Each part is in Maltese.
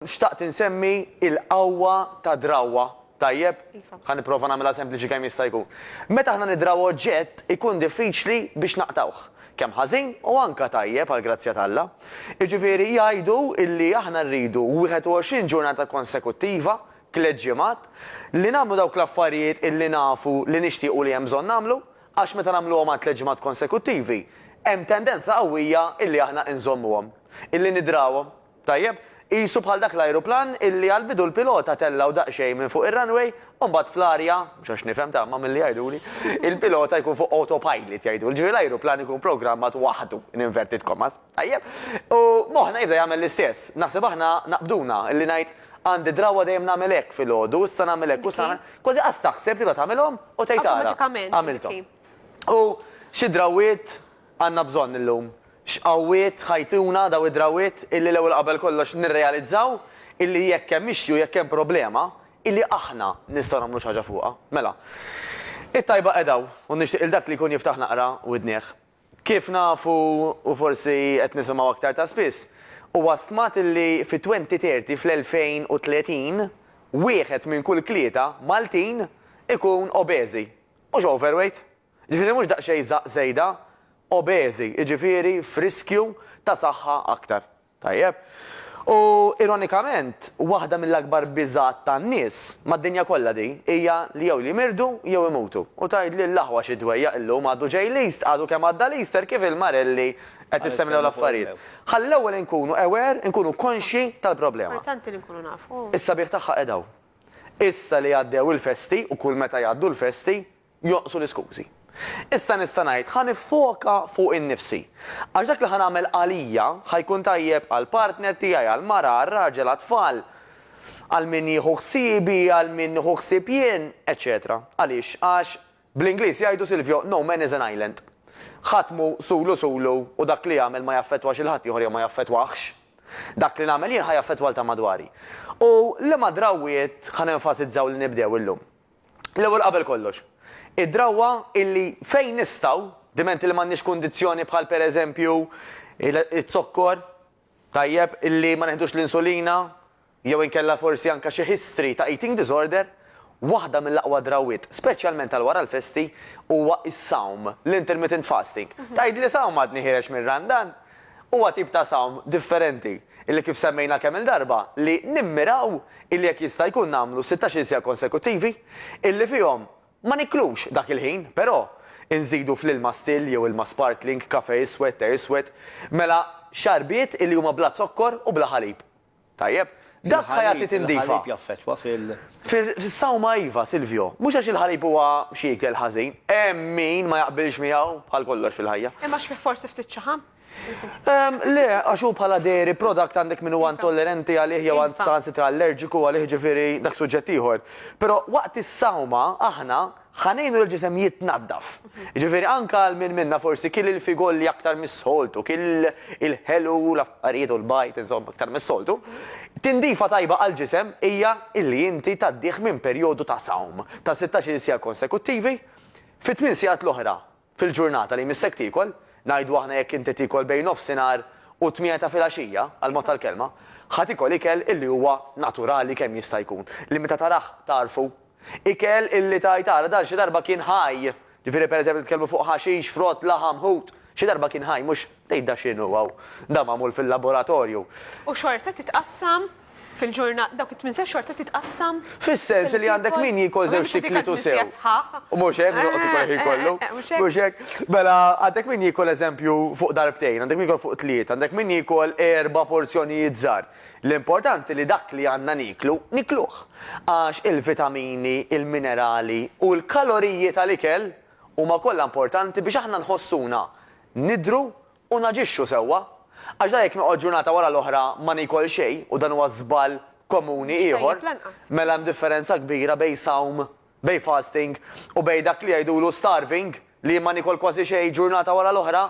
Xtaqt insemmi il-qawwa ta' drawwa, tajjeb? Iva. Ħa nipprova nagħmilha sempliċi kemm jista' jkun. Meta aħna niddrawwa oġġett ikun diffiċli biex naqtgħuh, kemm ħażin u anke tajjeb għall-grazzja t'Alla. Jiġifieri jgħidu illi aħna rridu 21 ġurnata konsekuttiva, tliet ġimgħat, li nagħmlu dawk l-affarijiet illi nafu li nixtiequ li hemm bżonn nagħmlu, għax meta nagħmluhom għal tliet ġimgħat konsekuttivi, hemm tendenza qawwija illi aħna inżommuhom, illi niddrawhom. Tajjeb, qisu bħal dak l-ajruplan illi għall-bidu l-pilota tellgħu daqsxejn minn fuq ir-runway u mbagħad fl-arja, mhux għax nifhem ta' imma milli jgħiduli, il-pilota jkun fuq autopilot jgħiduli, ġifieri l-ajruplan ikun programmat waħdu, in inverted commas, tajjeb, u moħħna jibda jagħmel l-istess. Naħseb aħna naqbduna illi ngħid, għandi drawwa dejjem nagħmel hekk filgħodu, issa nagħmel hekk u issa nagħmel, kważi qas taħseb tibda tagħmilhom u tgħid ara, għamilthom. U xi drawwiet, Għandna bżonn illum x'qawwiet ħajtuna dawn id-drawwiet illi l-ewwel qabel kollox nirrealizzaw illi jekk hemm issue, jekk hemm problema, illi aħna nistgħu nagħmlu xi ħaġa fuqha. Mela, it-tajba qiegħda hawn u nixtieq lil dak li jkun jiftaħ naqra widnih. Kif nafu u forsi qed nisimgħu aktar ta' spiss, huwa stmat illi fit-2030, fl-2030, wieħed minn kull tlieta Maltin ikun obeżi, mhux overweight, Jiġifieri mhux daqsxejn żgħaq żejda, obeżi, jiġifieri f'riskju ta' saħħa aktar. Tajjeb. U ironikament, waħda mill-akbar biżgħat tan-nies, mad-dinja kollha di, hija li jew jimirdu jew imutu. U tgħidli l-aħwa xi dwejjaq illum għadu ġej l-East, għadu kemm għadda l-Easter kif il-marelli qed issemlew l-affarijiet. Ħalli l-ewwel inkunu aware, inkunu konxji tal-problema. Importanti li nkunu nafu. Is-sabiħ tagħha qiegħed hawn. Issa li għaddew il-festi, u kull meta jgħaddu l-festi, jonqsu l-iskużi. Issa nista' ngħid ħa niffoka fuq innifsi. Għax dak li ħa nagħmel għalija ħa jkun tajjeb għall-partner tiegħi, għall-mara, għar-raġel, għat-tfal, għal min jieħu ħsiebi, għal min nieħu ħsieb jien, eċċetera Għaliex? Għax, bl-Ingliż jgħidu Silvio, no man is an island. Ħadd mhu sulu sulu u dak li jagħmel ma jaffettwax il-ħaddieħor jew ma jaffettwahx. Dak li nagħmel jien ħa jaffettwa 'l ta' madwari. U liema drawwiet ħa nenfasizzaw li nibdew illum? L-ewwel qabel kollox, id-drawwa illi fejn nistgħu, dimenti li m'għandniex kundizzjoni bħal pereżempju iz-zokkor, tajjeb, illi ma neħdux l-insulina, jew inkella forsi anke xi history ta' eating disorder, waħda mill-aqwa drawwiet, speċjalment għal wara l-festi, huwa s-sawm, l-intermittent fasting. Tgħidli sawm għadni ħiereġ mir-Randan? Huwa tip ta' sawm differenti illi kif semmejna kemm-il darba li nimmiraw illi jekk jista' jkun nagħmlu sittax-il siegħa konsekuttivi illi fihom ma niklux dak il-ħin però inżidu fl-ilma still jew ilma sparkling, kafè iswed, te iswed, mela xarbiet illi huma bla zokkor u bla ħalib. Tajjeb. Dak ħa jagħti tindifa. Il-ħalib jaffettwa fil. Fis-sawma iva, Silvio. Mhux għax il-ħalib huwa xi ikel ħażin. Hemm min ma jaqbilx miegħu, bħal kollox fil-ħajja. Hemm għax fih forsi ftit ċaħam? Le, għax hu bħala dairy product għandek min huwa intollerenti għalih jew saħansitra allerġiku għalih ġifieri dak suġġett ieħor. Però waqt is-sawma aħna Ħa ngħinu lill-ġisem jitnaddaf. Jiġifieri anke għal min minna forsi kiel il-figolli aktar mis-soltu, kiel il-ħelu u l-affarijiet u l-bajd, insomma, aktar mis-soltu, tindifa tajba għall-ġisem hija li inti tgħaddih minn perjodu ta' sawm ta' sittax-il siegħa konsekuttivi fi tmien siegħat l-oħra Fil-ġurnata li jmissek tiekol, ngħidu aħna jekk inti tiekol bejn nofsinhar u t-tmiena ta' filgħaxija, għall-mod tal-kelma, ħa tiekol ikel illi huwa naturali kemm jista' jkun, li meta tarah tagħrfu. Ikel illi tgħid ara dan xi darba kien ħaj, ġifieri pereżempju nitkellmu fuq ħaxix, frott, laħam, ħut, xi darba kien ħaj mhux Tgħid da x'inhu hawn? Da magħmul fil-laboratorju. U xorta titqassam fil-ġurnata, dawk it-tmien sigħat xorta titqassam. Fis-sens li għandek min jiekol żewġ tikliet u sew. U mhux hekk, joqgħod ikol il-ħin kollu. Mhux hekk. Mela għandek min jiekol eżempju fuq darbtejn, għandek min jiekol fuq tlieta, għandek min jiekol erba' porzjonijiet żgħar. L-importanti li dak li għandna nieklu, nikluh. Għax il-vitamini, il-minerali u l-kaloriji tal-ikel huma kollha importanti biex aħna nħossuna nidhru u naġixxu sewwa. Għax dan jekk noqgħod ġurnata wara l-oħra ma niekol xejn u dan huwa żball komuni ieħor, mela hemm differenza kbira bejn sawm, bejn fasting, u bejn dak li jgħidulu starving, li jien ma niekol kważi xejn ġurnata wara l-oħra.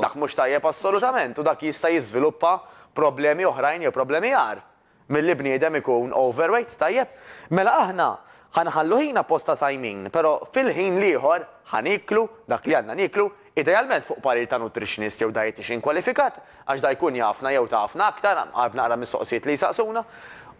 Dak mhux tajjeb assolutament u dak jista' jiżviluppa problemi oħrajn jew problemi agħar. Milli bniedem ikun overweight, tajjeb, mela aħna ħa nħallu ħin apposta sajmin, però fil-ħin l-ieħor ħa nieklu dak li għandna nieklu, idealment fuq parir ta' nutritionist jew dietician kwalifikat, għax da jkun jafna jew tafna aktar, għarb naqra mis-soqsijiet li jsaqsuna.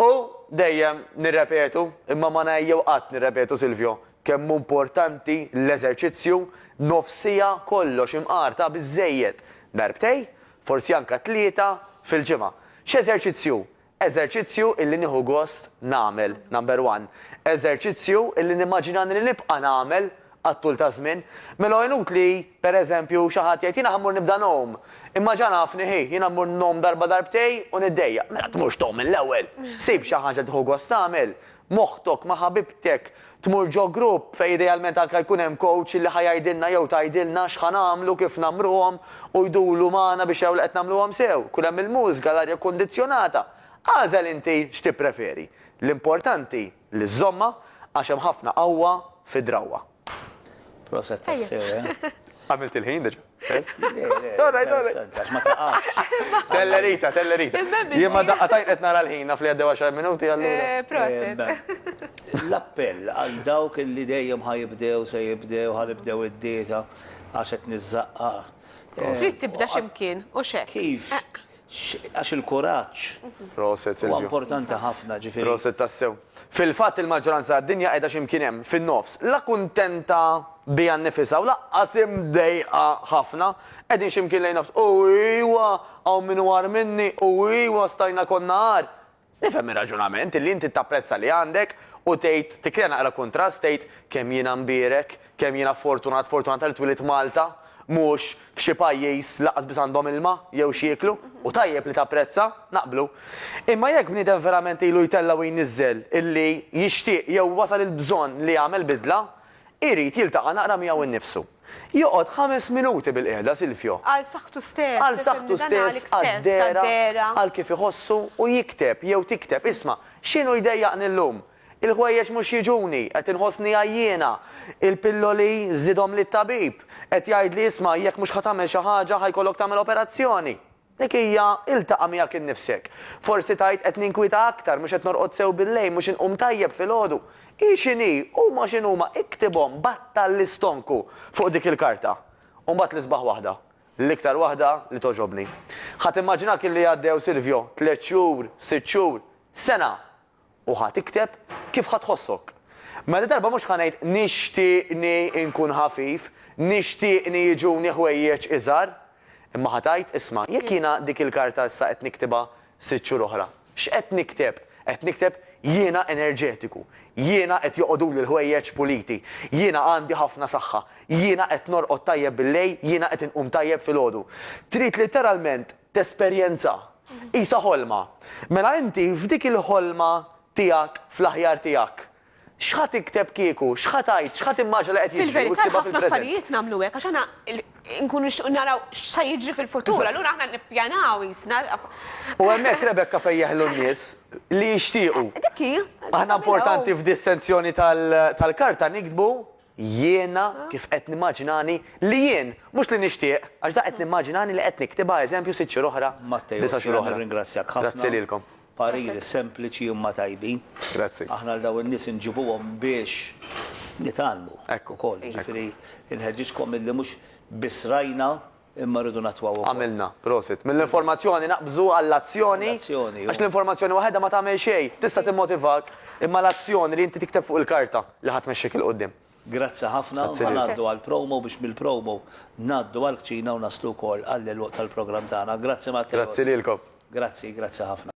U dejjem nirrepetu, imma ma ngħejjew qatt nirrepetu Silvio, kemm hu importanti l-eżerċizzju, nofs siegħa kollox imqar ta' biżżejjed, darbtej, forsi anke tlieta, fil-ġimgħa. X'eżerċizzju? Eżerċizzju illi nieħu gost nagħmel, number one. Eżerċizzju illi nimmaġina li nibqa' nagħmel għat-tul taż-żmien. Mela hu inutli, per eżempju, xi ħadd jgħid, jiena ħa mmur nibda ngħum. Imma ġa nafni, hi, jiena mmur ngħum darba darbtejn u niddejjaq. Mela tmurx tgħum mill-ewwel. Sib xi ħaġa li tieħu gost tagħmel. moħħtok ma' ħabibtek, tmur ġo grupp fejn idealment anke jkun hemm coach li ħa jgħidilna jew tgħidilna x'ħa nagħmlu, kif nagħmruhom u jduru magħna biex jaraw li qed nagħmluhom sew, jkun hemm il-mużika, l-arja kkundizzjonata. Agħżel inti x'tippreferi. L-importanti li żżommha għax hemm ħafna qawwa fid-drawwa. Proset tassew, eh? Għamilt il-ħin diġa. Għax ma taqax. Tellerita, tellerita. Jien ma daqqa tajt qed nara l-ħin naf li għaddew 10 minuti għallu. Eh, proset. L-appell għal dawk li dejjem ħajibdew se jibdew ħalibdew id-dieta għax qed niżżaqqa. Eh, Trid tibda x'imkien u xek. Kif? Eh. Għax il-kuraġġ huwa importanti ħafna, ġifieri. Proset tassew. Fil-fatt il-maġġoranza tad-dinja qiegħda xi mkien hemm, fin-nofs. La kuntenta biha nnifisha u lanqas imdejqa ħafna. Qegħdin xi mkien lejn nofs. U ijwa! Hawn min hu agħar minni! U ijwa! Stajna konna agħar! Nifhem ir-raġunament, li inti tapprezza li għandek u tgħid, tikkrea naqra kuntrast, tgħid, kemm jiena mbierek, kemm jiena fortunat, fortunata li twielidt Malta, mhux f'xi pajjiż li lanqas biss għandhom ilma jew x'jieklu, u tajjeb li tapprezza, naqblu. Imma jekk bniedem verament ilu jtella' u jniżżel illi jixtieq jew wasal il-bżonn li jagħmel bidla, Irid jiltaqa' naqra miegħu nnifsu. Joqgħod ħames minuti bilqiegħda, Silvio. Għal saħħtu stess. Għal saħħtu stess, għad-dehra, għal kif iħossu, u jikteb, jew tikteb, Isma', x'inhu jdejjaqni llum? Il-ħwejjeġ mhux jiġuni, qed inħossni għajjiena. Il-pilloli żidhomli t-tabib. Qed jgħidli, 'Isma', jekk mhux ħa tagħmel xi ħaġa, ħa jkollok tagħmel operazzjoni. Dik hija, iltaqa' miegħek innifsek. Forsi tgħid, 'Qed ninkwieta aktar, mhux qed norqod sew billejl, mhux inqum tajjeb filgħodu. Hi x'inhi, huma x'inhuma, iktibhom, battal l-istonku fuq dik il-karta. U mbagħad l-isbaħ waħda, l-iktar waħda li togħġobni. Ħa timmaġina kemm li għaddew, Silvio, tliet xhur, sitt xhur, sena! U ħa tikteb kif ħa tħossok. Mela dil-darba mhux ħa ngħid nixtieqni nkun ħafif, nixtieqni jiġuni ħwejjeġ iżgħar. Imma ħa tgħid, isma', jekk jiena dik il-karta issa qed niktibha sitt xhur oħra, x'qed nikteb? Qed nikteb jiena enerġetiku, jiena qed joqogħduli l-ħwejjeġ puliti, jiena għandi ħafna saħħa, jiena qed norqod tajjeb billejl, jiena qed inqum tajjeb filgħodu. Trid litteralment tesperjenza. Qisha ħolma. Mela inti f'dik il-ħolma tiegħek fl-aħjar tiegħek, x'ħa tikteb kieku, x'ħa tgħid, x'ħa timmaġina li qed jiġri u tiktibha fil-preżent? Fil-verità ħafna affarijiet nagħmlu hekk għax aħna nkunu nixtiequ naraw x'sa jiġri fil-futur, allura aħna nippjanaw qisna. U hemmhekk Rebecca fejn jeħlu n-nies li jixtiequ. Dik hi. Aħna importanti f'dissenzjoni tal-karta niktbu Jiena kif qed nimmaġinani li jien, mhux li nixtieq, għax dak qed nimmaġinani li qed niktibha eżempju sitt xhur oħra, disa' xhur oħra. Nirringrazzjak ħafna. Grazzi lilkom. Pariri sempliċi imma tajbin. Grazzi. Aħna lil dawn in-nies inġibuhom biex nitgħallmu. Hekk. Ukoll. Jiġifieri nħeġġiġkom milli mhux biss rajna, Imma rridu nattwaw ukoll. Għamilna. Prosit. Mill-informazzjoni naqbżu għall-azzjoni. Għall-azzjoni. Għax l-informazzjoni waħedha ma tagħmel xejn. Tista' timmotivak, imma l-azzjoni li inti tikteb fuq il-karta li ħa tmexxik 'il quddiem. Grazzi ħafna. Ħa ngħaddu għall-promo biex mill-promo ngħaddu għall-kċina u naslu wkoll għall-għeluq tal-programm tagħna. Grazzi Matteo. Grazzi lilkom. Grazzi, grazzi ħafna.